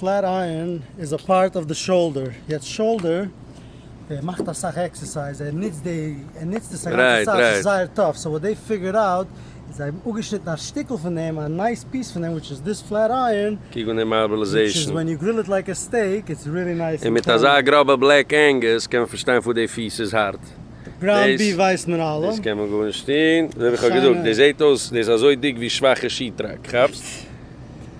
פלעט אייערן איז א פארט אויף די שאלדער, יעצט שאלדער, ער מאכט אסאך עקסערסייז, ער נוצט די, ער נוצט עס א גאנצע צייט, ס'איז זייער טאף, סאו וואט דעי פיגערד אוט, איז זיי האבן אפגעשניטן א שטיקל פון דעם, א נייס פיס פון דעם, וויטש איז דיס פלעט אייערן, קוק ווען די מארבעלעזעישן, און מיט אזא גראבע בלעק ענגעס קען מען פארשטיין פאר די פיס איז הארט, דאס קען מען גארנישט טון, ווי האב איך געזאגט, דאס זעט אויס, דאס איז אזוי דיק ווי שוואכע שיעט טראק, כאפסט?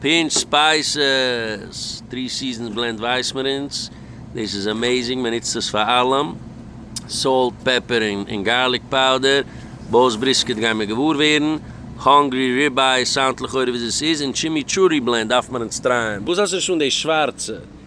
פינטש ספייסעס, טרי סיזענס בלענד ווייס מיר אונז, דאס איז עמעזינג, מען נוצט עס פאר אלעם, סאלט, פעפער און גארליק פאודער, באוס בריסקעט גיימיר געוואר ווערן, האנגרי ריבעי סאונדט לכאורה ווי עס איז, און טשימיטשורי בלענד דארף מען אונז טרייען. וואס האסטו נישט אן די שווארצע?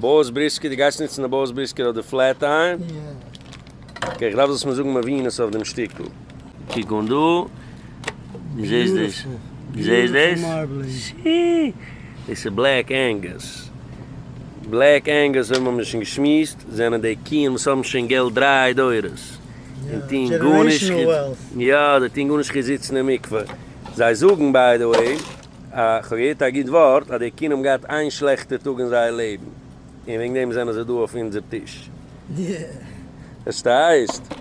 באס בריסקער, דו גייסט נוצן די באס בריסקער אדער פלעט טייער? אקעי, כ'דארף זאלסט מיר זאגן מבינות אויף דעם שטיקל. קוק אן דא, דו זעסט דאס? דו זעסט דאס? שי! דאס איז בלעק ענגוס. בלעק ענגוס אויב האמיר שוין געשמועסט, זענען די קוען וואס האבן שוין געלט דריי דורות, און טוען גארנישט חוץ, יא, זיי טוען גארנישט חוץ זיצן אין מקווה. זיי זאגן, ביי די וועי. איך האב געהערט א גוט ווארט אז די קינד האבן געהאט איין שלעכטע טאג אין זייער לעבן און וועגן דעם זענען זיי דא אויף אונזער טיש. עס הייסט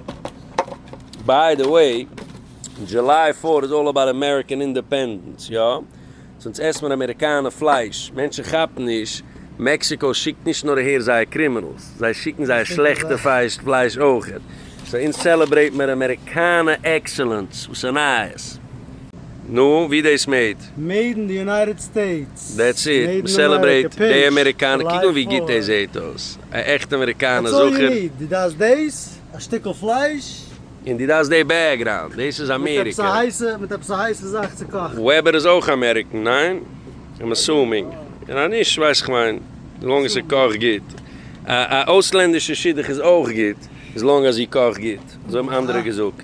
ביי די וועי דזשוליי פארט איז אלל אבאוט אמעריקען אינדעפענדענס יא סאונדס עסט מען אמעריקאנע פלייש מענטשן כאפן נישט מעקסיקאו שיקט נישט נאר אהער זייער קרימינעלס זיי שיקן זייער שלעכטע פייש פלייש אויכעט סא אונז סעלעברעיט מיר אמעריקאנע עקסעלענס וואס איז נייעס. נו, ווי דאס מעיד? מעיד אין די יונייטעד סטעיטס. דעטס איט, מעיד אין סעלעברעיט אמעריקע, דעי פעידזש, אמעריקאנע, קוק נאר ווי גוט דעי פלאר. זעהט אויס, א עכטע אמעריקאנע דעטס אלל יו זכר. ניד, די דארפסט דעיס, א שטיקל פלייש. און די דארפסט דעי בעקגראונד, דעיס איז מיט עפעס א אמעריקע. הייסע, מיט עפעס א הייסע זאך צו קאכן. וועבער איז אויך אמעריקען, ניין? איים אסומינג. און אז נישט, ווייס איך מיין, לאנג עס איז קאכט גוט. א א אויסלענדישע שידוך איז אויך גוט, איז לאנג אז זי קאכט גוט, אזוי האבן אנדערע געזאגט.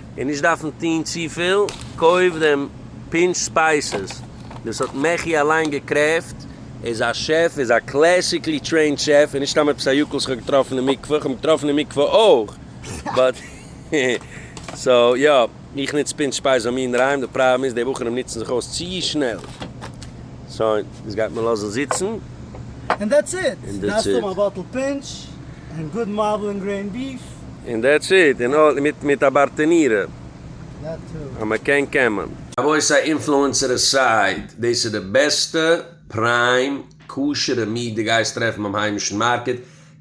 און נישט דארפן טוהן צופיל, קויף דעם פינטש ספייסעס, דאס האט מעכי אליין געקרעפט. ער איז א שעף, ער איז א קלעסיקלי טרעינד שעף, און נישט סתם עפעס א יוקל איך האב געטראפן אין מקווה, איך האב אים געטראפן אין מקווה אויך, באט סאו יא, איך נוץ פינטש ספייס ביי מיר אינדערהיים, די פראבלעם איז די בחורים נוצן זיך אויס צו שנעל, סאו דאס גייט מען לאזן זיצן. און דעטס איט, דארפסט האבן א באטל פינטש. און גוד מארבל און גרעינד ביף. און דעטס איט, און אוי מיט מיט א בארטענירע. דעט טו. אז מען קען קען מען. אבוי סיי אינפלוענסער עסייד, דאס איז די בעסטע פריים כשר'ע מיעט די גייסט טרעפן ביים היימישן מארקעט,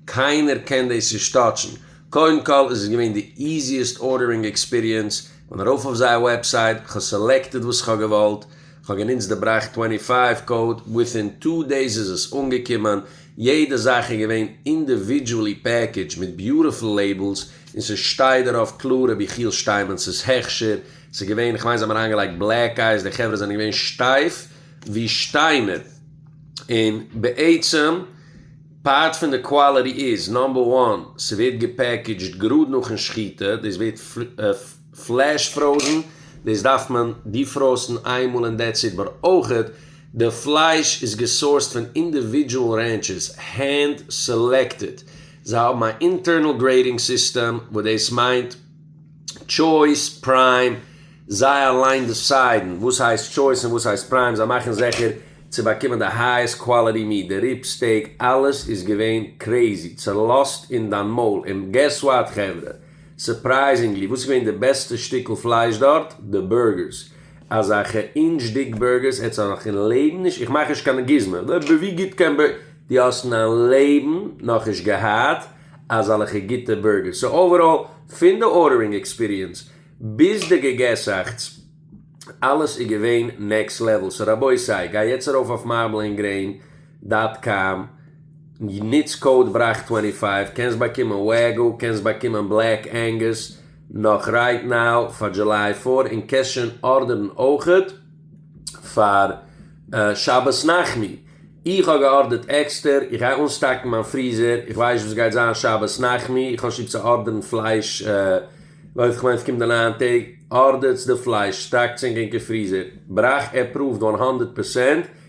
קיינער קען דאס נישט טאטשן, קודם כל איז עס געווען די איזיעסט ארדערינג עקספיריענס, כ'בין ארויף אויף זייער וועבסייט, כ'האב סעלעקטעד וואס כ'האב געוואלט, כ'האב גענוצט די בראך טווענטי פייוו קאוד, וויטין טו דעיס איז עס אנגעקומען, יעדע זאך איז געווען אינדיווידזשועלי פעקעדזש מיט ביוטיפול לעיבלס און ס'שטייט דערויף קלאר רבי יחיאל שטיינמענס הכשר, ס'איז געווען איך מיין זיי האבן אריינגעלייגט בלעק אייס די חברה זענען געווען שטייף ווי שטיינער און בעצם פארט פון די קוואליטי איז נאמבער וואן ס'ווערט געפעקעדזשד גראד נאכן שחיטה דאס ווערט פלעש פראוזן, דאס דארף מען דיפראסן איין מאל און דעטס איט, באט אויכעט די פלייש איז געסאורסד פון אינדיווידזשועל רענטשערס, הענד סעלעקטעד, זיי האבן א אינטערנעל גרעידינג סיסטעם וואס דאס מיינט טשויס, פריים, זיי אליין דעסיידן וואס הייסט טשויס און וואס הייסט פריים, זיי מאכן זיכער צו באקומען די הייעסט קוואליטי מיעט, די ריב סטעיק, אלעס איז געווען קרעיזי, צעלאזט אין דיין מויל, און געס וואט חברה? סורפרייזינגלי, וואס איז געווען די בעסטע שטיקל פלייש דארט? די בורגערס. אזעלכע אינטש דיק בורגערס העטסט דאך נאך אין לעבן נישט, איך מאך נישט קיין גוזמא, אבער ווי גוט קען בורגער, דו האסט אין דיין לעבן נאכנישט געהאט אזעלכע גוטע בורגערס. סאו אוועראל, פון די ארדערינג עקספיריענס ביז די געגעסאכטס, אלעס איז געווען נעקסט לעוועל. סאו רבותי, גיי יעצט ארויף אויף מארבל ענד גרעין. דאט קאם, נוץ קאוד בראך טווענטי פייוו, קענסט באקומען וועגו, קענסט באקומען בלעק ענגוס נאך רייט נאו פאר דזשוליי פאר, און קענסט שוין ארדערן אויכעט פאר שבת נחמו, איך האב געארדערט עקסטער, איך גיי אנסטאקן מיין פריזער, איך ווייס נישט וואס גייט זיין שבת נחמו, איך האב שטוב צו ארדערן פלייש לויט כ'מיין ס'קומט די ניין טעג, ארדערטס די פלייש, סטאקטס ענק ענקער פריזער, בראך עפראווד וואן האנדערט פערסענט.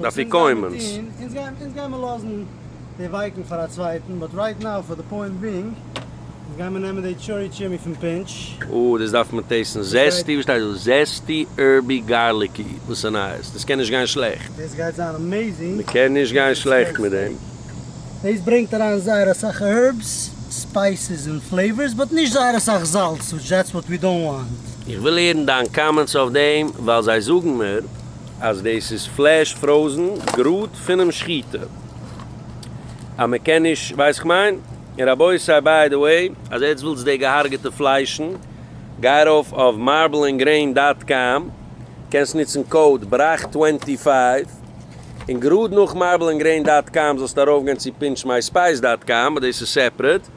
די אפיקוימענס. אונז גייען מיר לאזן די ווייקן פאר א צווייטן, באט רייט נאו פאר די פוינט בינג, אונז גייען מיר נעמען די טשורי טשימי פון פינטש. או, דאס דארף מען טעסטן. זעסטי, וואס שטייט דא? זעסטי הערבי גארליקי, וואס נייעס? דאס קען נישט גיין שלעכט. דאס גייט זיין אמעיזינג. מ'קען נישט גיין שלעכט מיט דעם. דאס ברענגט אריין זייער אסאך הערבס, ספייסעס און פלעיווארס, באט נישט זייער אסאך זאלץ, וויטש דעטס וואט ווי דאנט וואנט. איך וויל הערן דיין קאמענטס אויף דעם, ווייל זיי זאגן מיר. אז דאס איז פלעש פראוזן גראד פונעם שחיטה אז מען קען נישט ווייסט איך מיין און רבותי ביי די וועי אז עטץ ווילטס די געהארגעטע פליישן גיי ארויף אויף מארבל ענד גרעין דאט קאם קענסט ניצן קאוד בראך טווענטי פייוו און גראד נאך מארבל ענד גרעין דאט קאם זאלסטו ארויף גיין צו פינטש מיי ספייס דאט קאם באט דאס איז סעפרעט.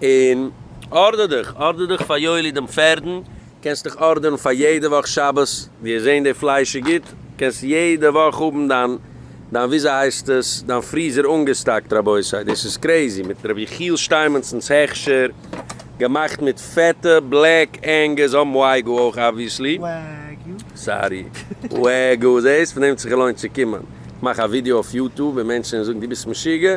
און ארדער דיך, ארדער דיך פאר יואלי דעם פערדן, קענסט דיך ארדערן פאר יעדע וואך שבת, וועסט זען די פלייש איז גוט, קענסט יעדע וואך האבן דיין דיין וויאזויהייסטעס דיין פריזער אנגעסטאקט, רבותי דאס איז קרעזי, מיט רבי יחיאל שטיינמענצן'ס הכשר, געמאכט מיט פעטע בלעק ענגעס, און וואגו אויך אבוויעסלי, סארי וואגו, זעהסט פון דעם האט זיך געלוינט צו קומען, איך מאך א ווידיאו אויף יוטוב און מענטשן זאגן דו ביסט משוגע,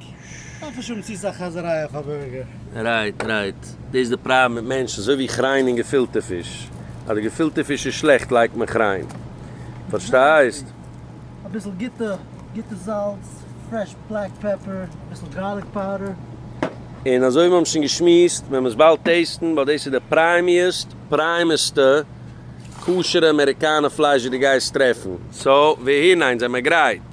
דארף נישט האבן צו סאך חזר'יי אויף א בורגער. רייט רייט, דאס איז די פראבלעם מיט מענטשן, אזוי ווי כריין און געפילטע פיש, אז די געפילטע פיש איז שלעכט לייגט מען כריין, פארשטייסט? אביסל גוטע גוטע זאלץ, פרעש בלעק פעפער, אביסל גארליק פאודער. און אזוי ווי מיר האבן שוין געשמועסט, ווען מ'עס באלד טעיסטן, ווייל דאס איז די פריימיעסט פריימעסטע כשר'ע אמעריקאנע פלייש וואס דו גייסט טרעפן. סאו, והנה, אונז זעמער גרייט.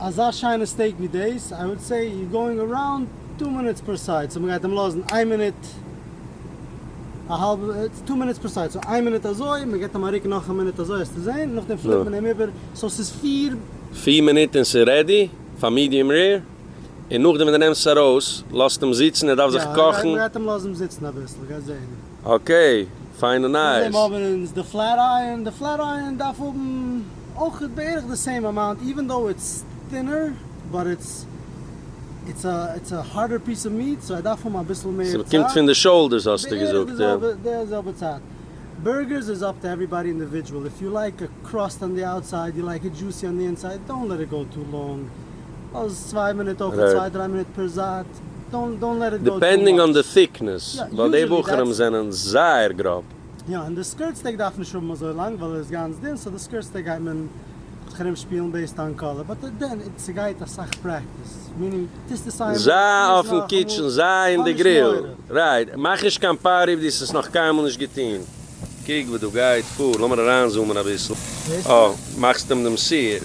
אזא שיינע סטעיק ווי דאס, איי וואלד סעי יו גאוינג אראונד טו מינוטס פער סייד, סאו מ'גייט אים לאזן איין מינוט, א האלבע, איטס טו מינוטס פער סייד, סאו איין מינוט אזוי, מ'געט אים א רוק נאך א מינוט אזוי העסטו זעהן, נאכדעם פליפט מען אים איבער, סאו ס'איז פיר. פיר מינוט און ס'איז רעדי פאר מידיעם רער, און נאכדעם ווען די נעמסט עס ארויס, לאזט אים זיצן, ער דארף זיך קאכן. יא, מ'גייט אים לאזן זיצן אביסל, גייסט זעהן. אקעי, פיינע נייעס. נאכדעם האבן אונז די פלעט אייערן, די פלעט אייערן דארף האבן אויך בערך די סעים אמאונט איווען דאו איטס טינער באט איטס איטס א הארדער פיס אוו מיעט סאו ער דארף האבן אביסל מער צייט. ס'קומט פון די שאולדערס האסטו געזאגט יא. בערך די זעלבע צייט. בורגערס איז אפ טו עוועריבאדי אינדיווידזשעל, איף יו לייק א קראסט אן די אוטסייד יו לייק איט דזשוסי אן די אינסייד דאונט לעט איט גאו טו לאנג, אז צוויי מינוט אויף און צוויי דריי מינוט פער זייט, דאנט דאנט לעט איט גאו טו מאטש. דיפענדינג אן די טיקנעס, ווייל די בחורים זענען זייער גראב. יא, און די סקירט סטעק דארף נישט האבן אזוי לאנג ווייל ער איז גאנץ דין, סאו די סקירט סטעק גייט מען זיך ארום שפילן בעיסד אן קאלער, באט דען ס'גייט אסאך פרעקטיס, מינינג טוסט דאס איינמאל, טו עס נאכאמאל, זיי אויפן קיטשען, זיי אין די גריל, רייט, מאך נישט קיין פאר איף דו האסט עס נאך קיינמאל נישט געטון. קוק וואו דא גייט פאר, לאמיר אריינזומען אביסל, אה, מאכסט אים דעם שעיר?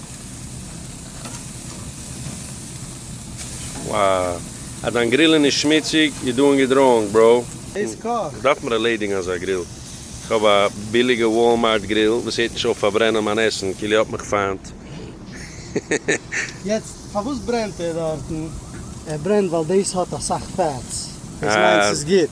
וואו! אז דיין גריל איז נישט שמוציג, יו דואינג איט ראנג בראו. דאס קאכט! דארף מיר ערלעדיגן אזא גריל, כ'האב א ביליגע וואלמארט גריל וואס הערט נישט אויף פארברענען מיין עסן כאילו ער האט מיך פיינט, היהיהי. יעצט פארוואס ברענט ער דארטן? ער ברענט ווייל דאס האט אסאך פעטס, דאס מיינט ס'איז גוט.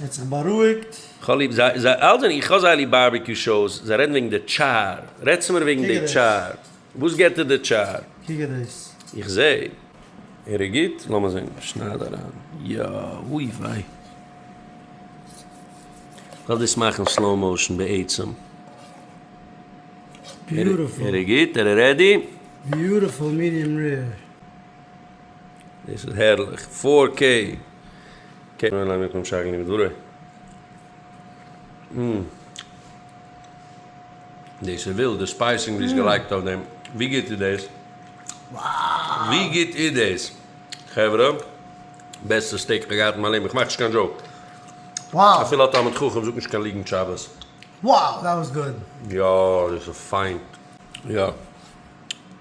ער האט זיך בארואיגט. כ'האב ליב זיי, זיי אלע זענען, איך האב זייער ליב בארבעקיו שאוס, זיי רעדן וועגן די טשאר, רעד צו מיר וועגן די טשאר, וואס געט ער די טשאר? קוק דאס. איך זע ער איז גוט, לאמיר זען, שנייד אריין, יא, אוי וויי. כ'וועל דאס מאכן סלאו מאושן בעצם. ער איז גוט? ער איז רעדי? ביוטעפול מידיעם רער. דאס איז הערליך פאר קעי. קעי מען ליינען פון שרגא ניגון דברי. אום. דאס איז ווילד, די ספייסינג ווי עס געלייגט אויף דעם. ווי גוט איז דאס? ווי גוט איז דאס? חברה, בעסטע סטעיק כ'האב געהאט אין מיין לעבן, איך מאך נישט קיין דזשאוק. אפילו א תלמיד חכם זאגט נישט קיין ליגנט שבת. יא, דאס איז פיין. יא.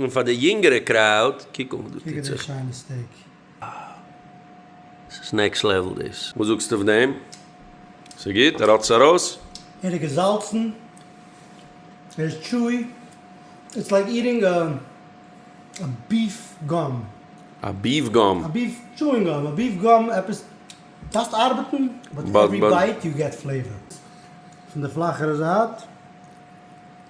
און פאר די יונגערע קראוד, קוק אן וואס דא טוט זיך. וואו! עס איז נעקסט לעוול דאס. וואס זאגסטו אויף דעם? ס'איז גוט? ער האט עס ארויס? ער איז געזאלצן, ער איז טשואי, איטס לייק איטינג א ביף גאם. א ביף גאם? א ביף טשואינג גאם, א ביף גאם עפעס, דארפסט ארבעטן, באט עווערי בייט יו געט פלעיווער. פון די פלאכערע זייט.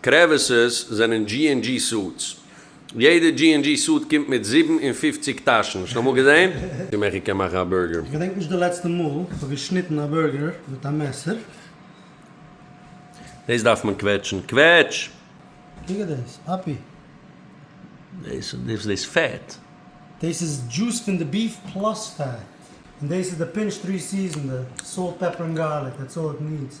קרעוויסעס זענען דזשי ענד דזשי סוטס. יעדע דזשי ענד דזשי סוט קומט מיט זיבן און פֿופֿציק טאשן. האסט אמאל געזען? צום איך קען מאכן א בורגער. כ'געדענק נישט די לעצטע מאל איך האב געשניטן א בורגער מיט א מעסער. דאס דארף מען קוועטשן. קוועטש! קוק אט דאס, אפי'. דאס איז דאס פעט. דאס איז דזשוס פון די ביף פלאס פעט. און דאס איז די פינטש טרי סיזענד, סאלט פעפער און גארליק, דעטס אלל איט נידס.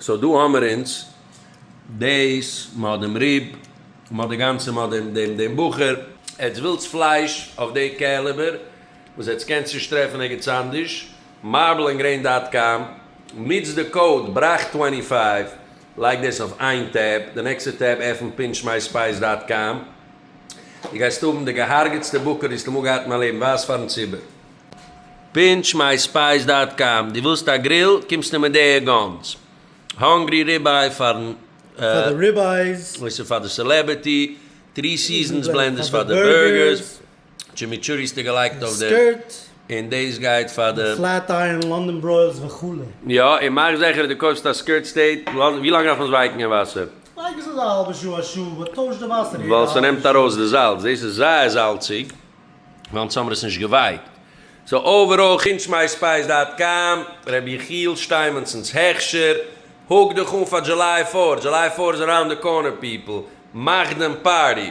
סאו דא האמער אונז דעיס, מ'האט דעם ריב, מ'האט די גאנצע, מ'האט דעם דעם דעם בחור. עטס ווילטס פלייש אויף די קעליבער וואס עטס קענטס נישט טרעפן ערגעץ אנדערש, מארבל ענד גרעין דאט קאם, ניצט די קאוד בראך טווענטי פייוו, לייג דאס אויף איין טעב, די נעקסטע טעב עפענט פינטש מיי ספייס דאט קאם, דו גייסט האבן די געהארגעטסטע בקר וואס כ'האב אמאל געהאט אין מיין לעבן, ווייז פארן ציבור. פינטש מיי ספייס דאט קאם. דו ווילסט א גריל? קומסטו מיט די גאנס? האנגרי ריבעי פארן אויס און פאר די סעלעבערטי, טרי סיזענס בלענדערס פאר די בורגערס, טשימיטשורי האסטו געלייגט אויף די און דאס גייט פאר די פלעט איירען, לאנדאן ברוילס וכו'. יא, און מאך זעכער אז דו קויפסט א סקירט סטעיט. ווי לאנג דארף מען עס ווייקן אין וואסער? לייג עס אזא האלבע שעה א שעה, באט טויש די וואסער יעדע האלבע שעה. ווייל ס'נעמט ארויס די זאלץ. דאס איז זייער זאלציג. ווייל אונז האמער עס נישט געווייקט. סאו אוועראל חוץ מיי ספייס דאט קאם, ר' יחיאל שטיימענצן'ס הכשר, הוק דיך אן פאר דזשוליי פארט, דזשוליי פארט איז אראונד די קארנער פיפל, מאך דעם פארטי.